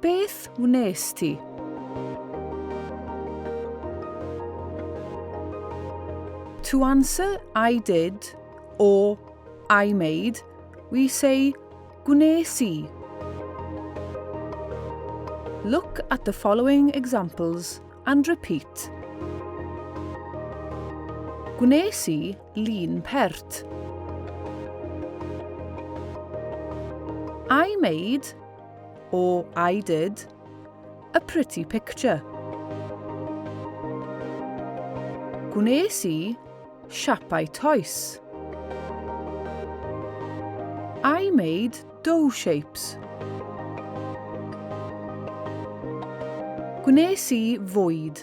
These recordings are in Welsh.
Beth wnes ti? To answer I did or I made, we say gwnes i. Look at the following examples and repeat. Gwnes i lun pert. I made, or I did, a pretty picture. Gwnes i siapau toes. I made dough shapes. Gwnes i fwyd.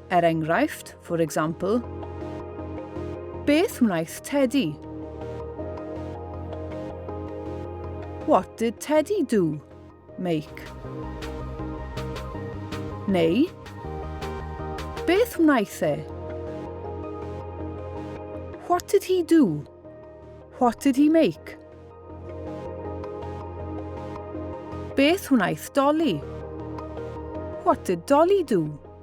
Er enghraifft, for example, Beth wnaeth Teddy? What did Teddy do? Make. Neu, Beth wnaeth e? What did he do? What did he make? Beth wnaeth Dolly? What did Dolly do?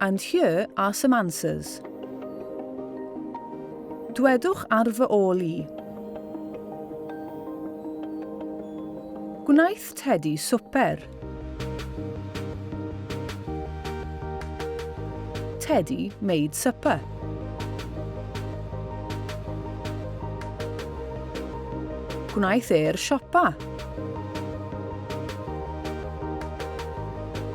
And here are some answers. Dwedwch ar fy ôl i. Gwnaeth Teddy swper. Teddy made supper. Gwnaeth e'r siopa.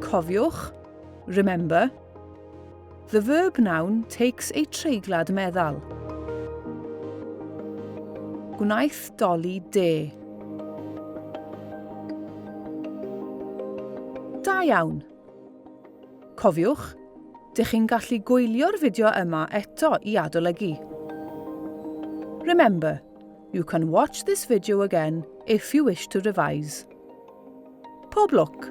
Cofiwch, remember, the verb noun takes a treiglad meddal. Gwnaeth Dolly de. Da iawn! Cofiwch, dych chi'n gallu gwylio'r fideo yma eto i adolygu. Remember, you can watch this video again if you wish to revise. Pob lwc!